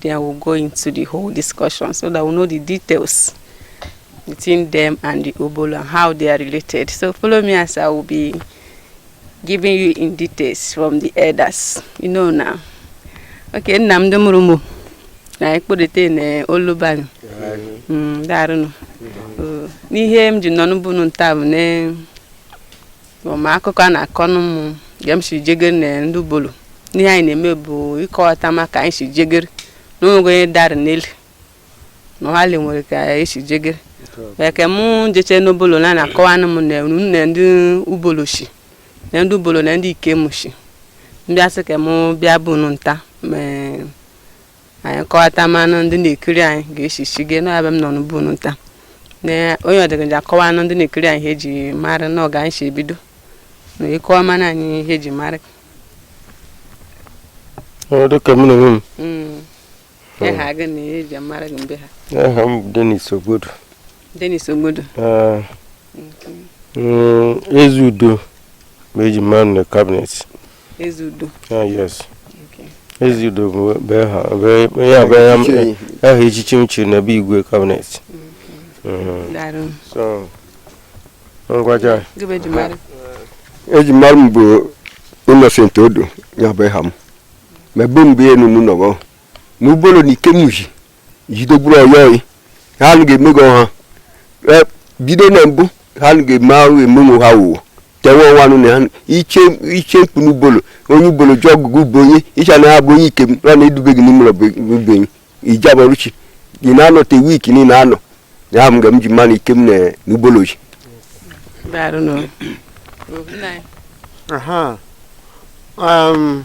Then we'll go into the whole discussion so that we'll know the details between them and the Obolo and how they are related. So follow me as I will be giving you in details from the elders. You know now. Okay, nna m ndị mụrụ mụ na ekpodete na olubanu daarụ nụ n'ihe m ji nọ n'Ubunu nta bụ na ma akụkọ a na-akọ n'ụmụ ga m si jegere na ndị Obolo n'ihe anyị na-eme bụ ịkọwata ma ka anyị si jegere na onwego onye dara n'elu na ọhali nwere ka anyị si jegere wee ka mụ jeche n'Obolo na na-akọwanụ m na unu na ndị Obolo shi na ndị Obolo na ndị Ikem shi m bịa sị ka mụ bịa Ubunu nta ma anyị kọwata manụ ndị na-ekiri anyị ga-echichi gị na ebe m nọ n'Ubunu nta na onye ọdịgaji akọwanụ ndị na-ekiri anyị ihe eji mara na ọ ga anyị si ebido na ịkọwa mana anyị ihe eji mara Ọ dịka m na onwe m Mm. Ịha gị na ihe eji mara gị mbe ha aha m bụ Dennis Ogbodo Dennis Ogbodo Ah, mm, Ezeudo ma eji mara na cabinet Ezeudo. Ah, yes. Ezeudo bụ aha echichi m chiri na be Igwe cabinet. So ngwa, aha eji mara m bụ Innocent Odo ya bụ ịha m. Ma ebe mgbe enu m nọgọ. N'Obolo na Ikem ji jidegburu ọyọghị ha anụ ga-eme gị ọha E, bido na mbụ ha anụ ga-eme ahụ eme onwe ha wụwa tenwe ọnwa anụ na ha iche iche mkpu n'Obolo onye Obolo ji ọgụgụ bụ onye ịcha na ha bụ onye Ikem na na-edube gị n'ime ụlọ be anyị ije abọrụchi ị na-anọ te week niile anọ ya ahụ m ga m ji ma na Ikem na Obolo ji Daalụ nụ. Aha. Um,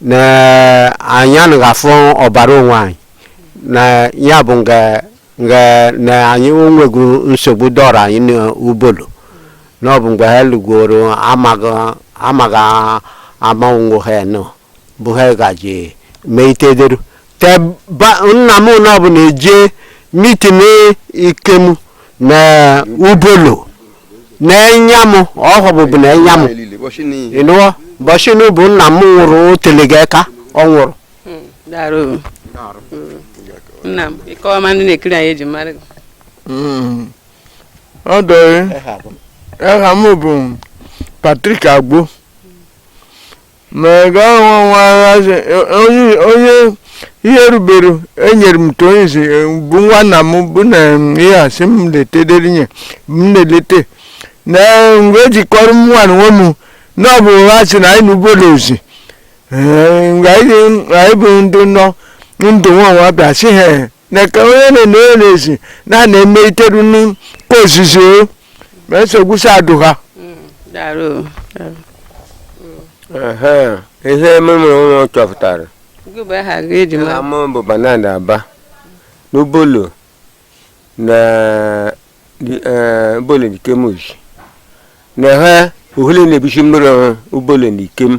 na anyị anaghị afụ ọbara onwe anyị na ya bụ nga nga na anyị onwego nsogbu dọrọ anyị n'Obolo na ọ bụ mgbe ha lụgoro amaghị amaghị ama onwe ha nọ bụ ha gaji mee itederu ka ba nna m na ọ bụ na-eje mitin Ikem na Obolo na enya m ọhọbụbụ na enya m ịnụọ bọshinu bụ nna m nwụrụ o telega aka ọ nwụrụ Daalụ. nna m ịkọwa ma ndị na-ekiri anyị eji mara gị ọ dọrị aha m bụ Patrick Agbo ma ga nwawazi onye ihe rubere enyere m tonzi bụ nwanna m bụ na ihe a sị m letedere nye m na-elete na mgbe ejikọrọ m nwa nwe m na ọ bụ ha sị na anyị n'Obolo ozi mgbe anyị bụ ndị nọ ndụ nwanwa bịa sị ha na ka onye na-enye na-esi na na-eme iteru n'ozizi o ma esi egwusi adụ ha ihe ememe ụlọ chọpụtara ama bụ banana aba n'ubolo na ubolo na ikem shi na ha uhule na-ebichi mmiri ubolo na ikem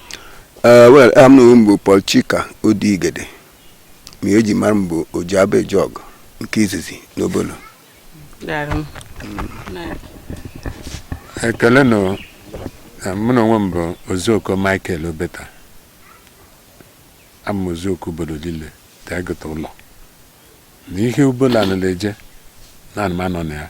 Eh, well aha m na onwe m bụ Paul Chika Odigede ma eji mara m bụ Ojiaba Ejog nke izizi n'Obolo Daalụ. Na- ekele na na mụ na onwe m bụ Ozioko Michael Obeta abụ m Ozioko Obolo niile ka egote ụlọ na ihe ọbụla nọ na-eje na anụmanụ na ya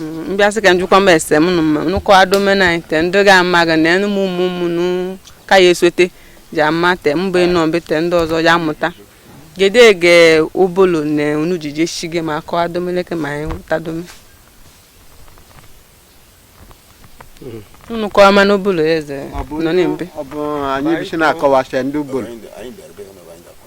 Mm, m bịa sị ka m jụkwa m ese m nụ mma nụkọ adomena anyị te ndị ga ama ga na enu m ụmụ ụmụ nụ ka ya esote ji ama te mba ịnọ mbe te ndị ọzọ ya amụta gede ege obolo na unu ji je shige ma akọ adomeleke ma anyị wụtadome unu kọwa ma n'obolo eze nọ na mbe ọ bụ anyị bisi na-akọwasị ndị Ubolo Anyị bịara be ha na anyị ga-akọ.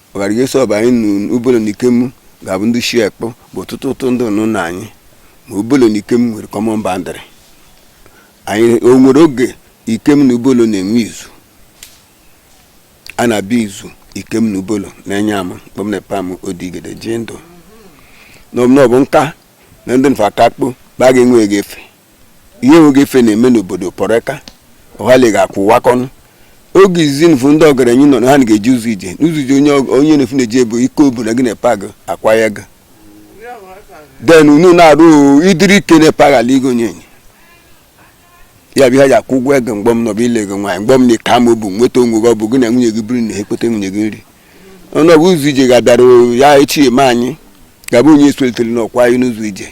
ọghara ihe sọbụ anyị na obolo na Ikem ga-abụ ndị shi ekpọ bụ ọtụtụ ụtụ ndị nụ na anyị ma obolo na Ikem nwere common boundary anyị o nwere oge Ikem na ubolo na-enwe izu a na-abịa izu Ikem na ubolo na-enye ama mgbe m na pa m Odigede ji ndụ n'ọbụ nka na ndị nfa aka akpụ ba ga-enwe ga-efe ihe nweghị efe na-eme n'obodo pọreka ọhali ga-akwụ wakọnụ oge izizi nfu ndị ọgaranya nọ na ha ga-eji ụzọ ije n'ụzọ ije onye ọg- onye na-efu na-eje ebe ike obodo gị na pag akwa ya ga den unu na-arụ idiri ike na pag ala igo onye enyi ya bụ ihe ji akwụ ụgwọ ego mgbọ m nọbụ ile ego nwaanyị mgbọ m na ka ma obu nweta onwe gị ọ bụ gị na nwunye gị biri na ekpete nwunye gị nri ọnụ ọgụ ụzọ ije ga-abịara ya echi eme anyị ga-abụ onye esolitere n'ọkwa anyị n'ụzọ ije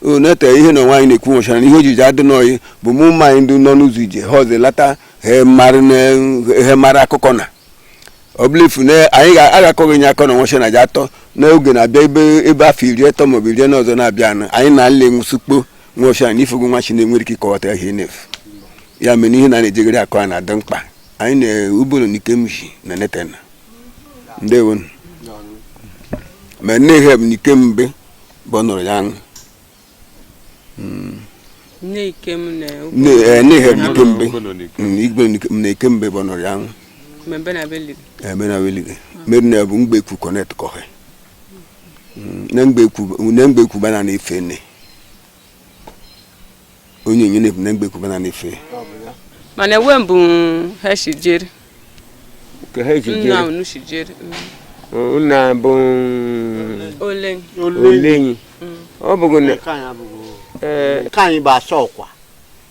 o nete ihe na onwe anyị na-ekwu nwechara na ihe ojiji adị n'oyi bụ mụ ụmụ anyị ndị nọ n'ụzọ ije ha ọzọ lata ha mara na- ha mara akụkọ na ọ bụla efu na anyị ga- agakọghị nye akọ na nwacha na ji atọ n'oge na-abịa ebe ebe afọ iri atọ maọbụ iri na ọzọ na-abịa anụ anyị na nle nwụsịkpo nwacha na ifogo nwachi na-enwere ike ịkọwata ihe na-efu ya mere ihe na na-ejegharị akụ a na-adị mkpa anyị na Ubolo na Ikem shi na netena ndewonu ma nne ihe bụ na ike mbe bụ nụrụ ya aṅụ nne ikem na Nne- eh, nne ha bụ ikembe Mm, igwe nke- m na ikembe bụ nụrụ ya aṅụ mmebe na be liri emena welige mmeri na bụ mgbe ekwu connect kọhe na mgbe ekwu na mgbe ekwu bana na ife nne onye onye na-ebu na mgbe ekwuba na na-efe mana enwe mbụ ha si jere ka ha ji nna jere unu si jere nna bụ ole olenyi ọ bụghị na Nke anyị abụghị- ee, nke anyị bụ asa ọkwa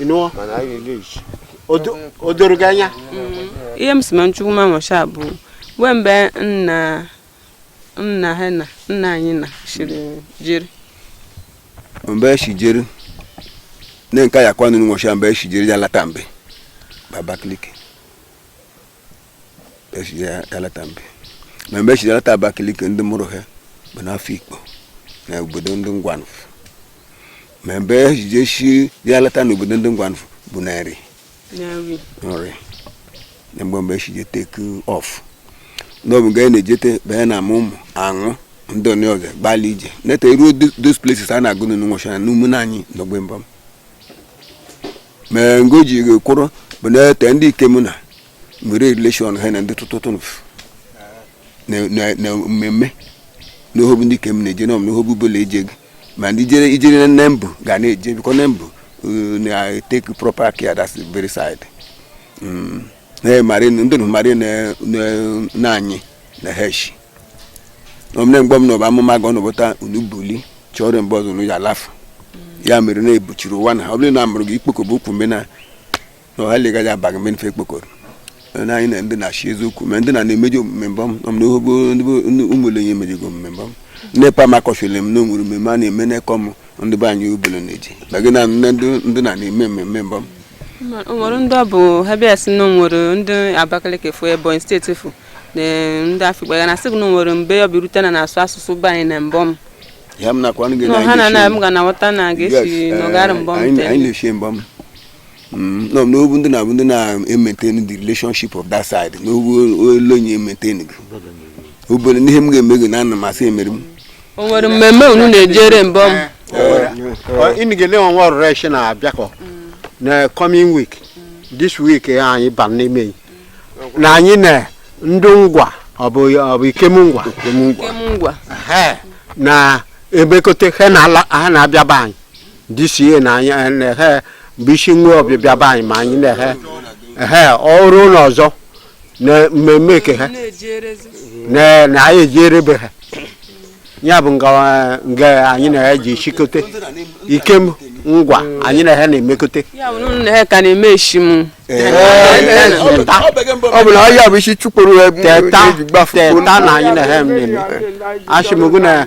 ị nụọ mana anyị na-eleji o doro gị anya ihe m si ma nchukwu ma nwacha bụ wee mgbe nna nna ha na nna anyị na chiri jiri mgbe eshi jiri ne nka ya kwanu nwacha mgbe eshi jiri ya lata mbe Abakaliki eshiri ya alata mbe ma mgbe eshiri alata Abakaliki ndị mụrụ ha bụ n'Afikpo na obodo ndị Ngwanfụ ma mgbe ejiji eshi ya alata na obodo ndị Ngwanfụ bụ na nri nri nri na mgbe mgbe eshi je take off n'ọ bụ ga na-ejete banye na ama ụmụ aṅụ ndị onye ọzọ gbalị ije neta ruo those places a na-agụ n'ụnwụcha na n'umu na anyị n'ogbe mbam ma ngo ji kwụrụ bụ na ete ndị Ikem na nwere relation ha na ndị tụtụtụnụ na mmemme na ohobu ndị Ikem na-eje na ohobu bụla eje gị ma ndị jere ijere na nne mbụ ga na-eje bikọ nne mbụ na-etake proper care that's the very side na-emari ndị nụmarị na anyị na heshi omne mgbe m nọba amụma ga ọnụbụta unu buli chọrọ mgbe ọzọ unu ya alafu ya mere na ebuchiri ụwa na ọ bụrụ na amụrụ gị ikpokọba ukwu mgbe na ọha legaghị abaghị mgbe mfe ekpokọrọ na anyị na ndị na-achị eziokwu ma ndị na na-emeji omume Mbọm na ohobu ụmụlenye emejigo omume Mbọm nepa m akọchiri m na o nwere mmemme a na-eme n'ekọ m ndị be anyị obele na-eji bagị na ndị na na-eme mmemme Mbọm nwere ndị ọ bụ ha bịa sị na nwere ndị Abakaliki fụ Ebonyi State fụ na ndị Afikpo ya na sị na nwere mgbe ọ bịarute na na-asụ asụsụ be anyị na Mbọm ha na na m ga na ghọta na ga-esi eh, nọgara Mbọm mm, no n'ọ bụ ndị na-abụ ndị na-maintain the relationship of that side n'ọ bụ olee onye maintain gị obere n'ihe m ga-eme gị na ana m asị emere m o nwere mmemme unu na-ejere Mbọm ịnụ ga-ele ọnwa ọrụrụ echi na-abịakọ na coming week this week anyị ba n'ime yi. na anyị na ndị Ngwa ọ bụ ọ bụ Ikem Ngwa Ikem Ngwa Ehe, na emekote he na-ala ha na-abịa be anyị this year na anyị eh, na he bụ isi nwe ọbịbịa be anyị ma anyị na he ehe ọrụ ụlọ ọzọ na mmemme ke ha na-ejerezi na na anyị ejere be ha ya bụ nga nga anyị na ha ji chikote Ikem ngwa anyị na ha na-emekote ya bụ na ụnụ na ha ka na-eme eshimu ọ bụ na ọhịa bụ isi chụpụrụ ha teta eji gbafu teta na anyị na ha na-eme achịmụgụ na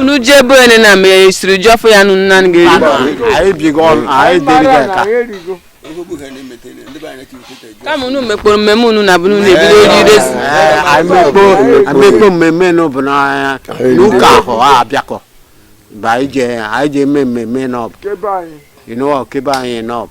unu je ebe onye na ma esiri ji ọfụ ya nụnụ nanị ga-eri kama unu mekpọrọ mmemme unu na bụrụ na ebido ojidesi amekpo mmemme n'ọbụ n'ụka ahụ a abịakọ anyị je eme mmemme n'ọbụ ke be anyị n'ọbụ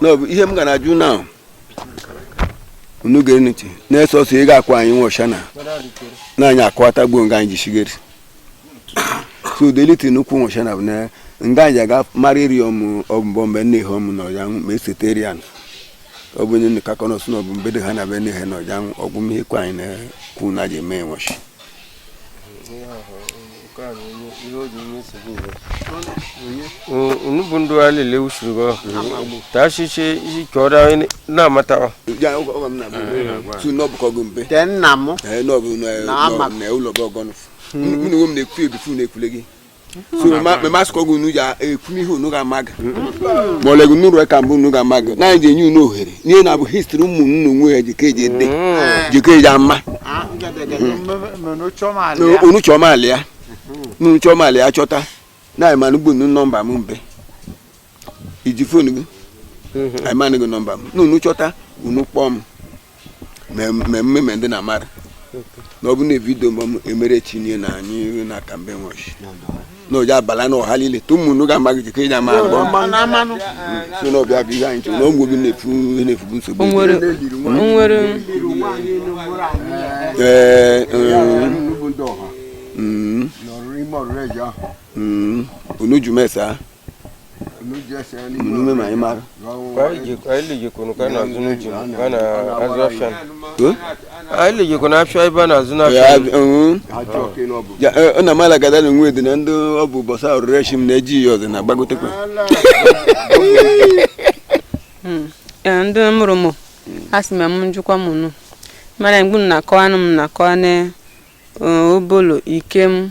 n'ọbụ ihe m ga na-ajụ na unu gere ntị na-eso ọsọ ị ga-akụ anyị nwa ọsha na na anyị akọwata gbuo nga anyị jisigeri so udeliti nnukwu nwa ọsha na bụ na nga anyị aga mara iri ọmụ ọbụbọ mgbe nne ihe ọmụ na ọja ma esetere ya ọ bụ onye nka kọnọsụ na ọbụ mbedo ha na be nne ihe na ọja ọgwụ ihe kwa anyị na-ekwu na ji eme nwashi unu bụ ndị a lele usoro gọ ta asịsị isi ka ọ daa na-amata ọ te nna m na ama na ụlọ gị ọgọnụ mụ na onwe m na-ekwu ebifu na-ekwule gị so memasikwa gị unu ji ekwume ihe unu ga-amaga ma ọlegu nụrụ ka mbụ unu ga-amaga na anyị ji enye unu ohere n'ihe na-abụ histri ụmụ unu nwe ya jike eji ede jike eji ama unu chọma alị ya unu chọma alị ya chọta na anyị mana ugbu unu nọmba m mbe iji fon gị m enye gị nọmba m na unu chọta unu kpọọ m mmemme me ndị na mara na ọ bụ na vidio m emere chinye na anyị na kambe nwachi na ọja abala na ọha niile tụ mụnụ ga amaghị jikọ ịja ma agba so na ọ bụ ya bụ ihe anyị chọrọ na ọgwụ gị na-efu na-efubu nsogbu ee Mm, unu jụ m ese munume ma imara ailejikwana afịa ebe a na-azụ n'afịa ọ na mala gada na onwe dị na ndị ọ bụ bọsa ọrụre shi m na-eji ya ọzọ na agbagotekwa Ee, ndị mụrụ m a sị ma m njụkwa m nụ mana mgbe m na-akọwanụ m na-akọwa na eh, Obolo Ikem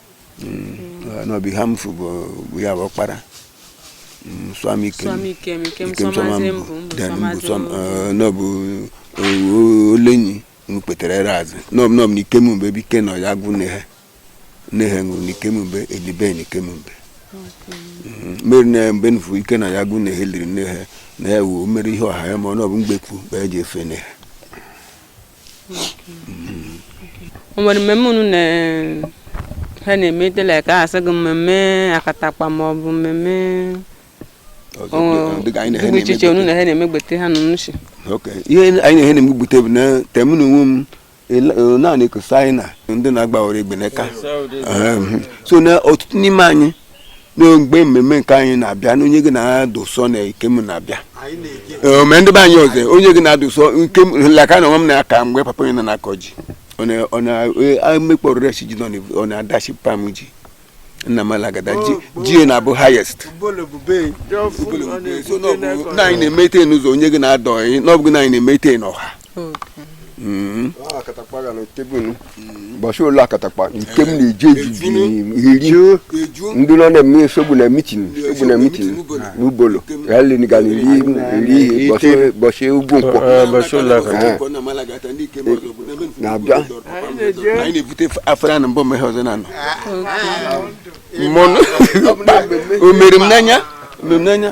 mm, na ọ bụ Eha Amufu bụ bụ ya bụ ọkpara Mm, swam ikem Swam Ikem, Ikem Ikem Swam Swamazi Azị Mbụ, Mbụ Then Swam Mbụ Azị Swam, Mbụ. eh, na ọ bụ eh, o- olenyi nkwetere ere azụ na ọ bụ na ọ bụ na ikem mgbe ebe ike nọ ya gwụ nne he nne he nwụrụ na ikem mgbe elibe na ikem mgbe Mm, mmeri na mgbe nfu ike nọ ya gwụ nne he liri nne he na ya wuo mmeri ihe ọha ya ma ọ na ọ bụ mgbekwu mgbe ya ji efe nne he o nwere mmemme unu na ha na-eme dịla ka a sị gị mmemme akatakpa ma ọ bụ mmemme dị iche iche unu na ha na-emegbete ha na nnuchi ihe anyị na-ehe na-emegbute bụ na tem na onwe m naanị ekosa anyị na ndị na-agbawara egbe n'aka so na ọtụtụ n'ime anyị na mgbe mmemme nke anyị na-abịa na onye gị na-adụsọ na Ikem na-abịa Ee, ma ndị be anyị ọzọ onye gị na-adụsọ nke m laka na onwe m na-aka mgbe papa onye nọ na-akọ ji ọ na- ọ na-emekpọrọ resi ji nọ na- ọ na-adachi pam ji nna m alagada ji ji na-abụ highest so na ọ bụ na anyị na-emete n'ụzọ onye gị na-adọ anyị na ọ bụ gị na anyị na-emete n'ọha Mm-hmm. Ah, akatakpa ga na tebụl mm-hmm. bọchị ụlọ akatakpa nke m na-eji eji eri ndị nọ na-eme nsogbu na mitin nsogbu na mitin n'Ubolo ya leni ga na eri eri ihe bọchị ugwu nkwọ na-abịa anyị na-ebute afara na mbọ mmehie ọzọ na-anọ ah, ah, o mere m n'anya mere m n'anya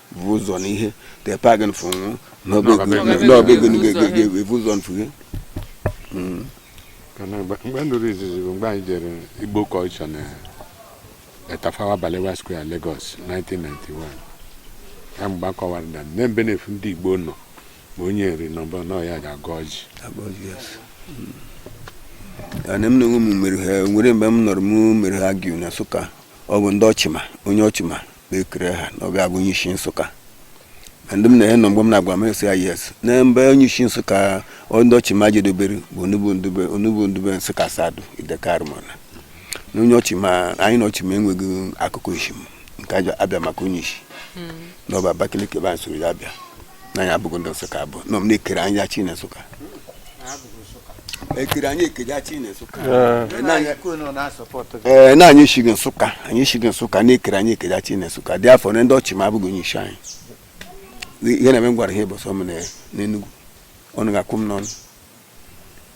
bụ ụzọ na ihe te pagin fụ nwụ n'ọbegịnịga-ebu ụzọ nfuhe Kana mgbe mgbe m nụrụ izizi bụ mgbe anyị jere Igbo culture na Tafawa Balewa Square Lagos 1991 ya mgbe a kọwara na mbe na-efu ndị Igbo nọ ma onye Nri nọ mbọ na ọ ya ga-agọ ọjị ana m na onwe m mere ha nwere mgbe m nọrọ m mere argue na Nsụka ọ bụ ndị Ochima onye Ochima ekere ha na ọ bụ ya bụ onye isi Nsụka na ndị m na ya nọ mgbe m na-agwa m esi ya yes na mbe onye isi Nsụka ọ- ndị Ochima jedobere bụ onugbu ndube onugbu ndube Nsụka Asadu Ideke Arumona na onye Ochima anyị na Ochima enweghị akụkọ asị m ka a bịa maka onye isi na ọ bụ Abakaliki ebe anyị soro ya bịa na anyị abụghị ndị nsụka abụ na m na-ekere anyị jachi na nsụka ekere anyị eke jachi na nsụka ee na anyị esighị nsụka anyị esighị nsụka na-ekere anyị eke jachi na nsụka therefore na ndị Ochima abụghị onye isi anyị ihe na-eme m gwara ha ịbọsọ m n'Enugwu ọnụ ga-akwụ m n'ọnụ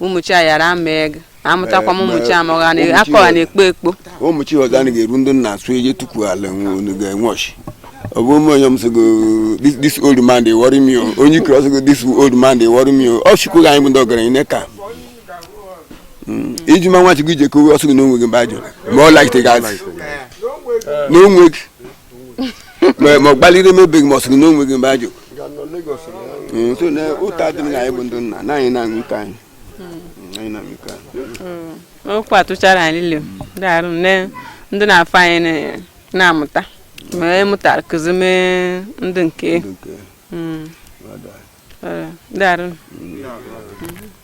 ụmụchi a mara ama ego amụtakwa m ụmụchi amụgha na akọgha na ekpo ekpo ụmụchi ọzọ a ga-eru ndị na-asụ eje tupu ala unu ga-enwe ọchị ọ bụ ụmụ onye m sịgo this old man dey worry me onye i kere ọ sịgo this old man dey worry me ọ chukwu anyị bụ ndị ọgaranya ne ka hmm. iji ma nwa chukwu ije kowe ọ sịgo na o nweghị mgbe ajọ ma ọ laite gazi na o nweghị ma ọ gbaliri emebeghị ma ọ sịrị na o nweghị mgbe ajụ nso na ụta dị m na anyị bụ ndị nna na anyị na-aṅụ ike anyị anyị na-aṅụ ike anyị okwu a tụchara anyị niile daarụ nne ndị n'afọ anyị na- na-amụta ma amụtara kụzi mee ndị nke Ndị nke Mm. ọ dị. Ọ, daarụ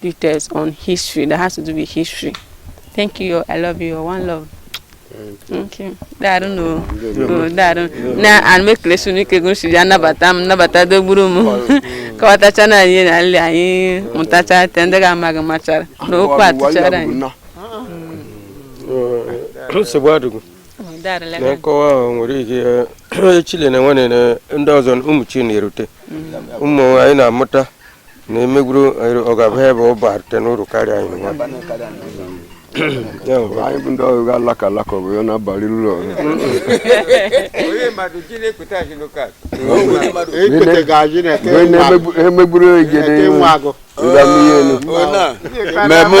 details on history that has to do with history. Thank you. I love you. One love. Okay. Daarụ nụ o. O, daarụ. Na ana m ekele unu ike gụrụ si bịa nabata m nabata dogburu m kọwatacha na anyị na nri anyị mụtacha te ndị ga-amaghị machara na okwu a tụchara anyị. nsogbu adịghị Daarụ na lebe. nkọwa ahụ nwere ike eh, chile na nwere na ndị ọzọ ụmụ chi na-erute ụmụ anyị na-amụta na emegburu ọ ga-abụ ebe ọ barute n'uru karịa anyị nwa anyị bụ ndị ọrụ ga alaka alaka ọ bụ ya na-abalị ụlọ emegburu egede nwa agụ mmemme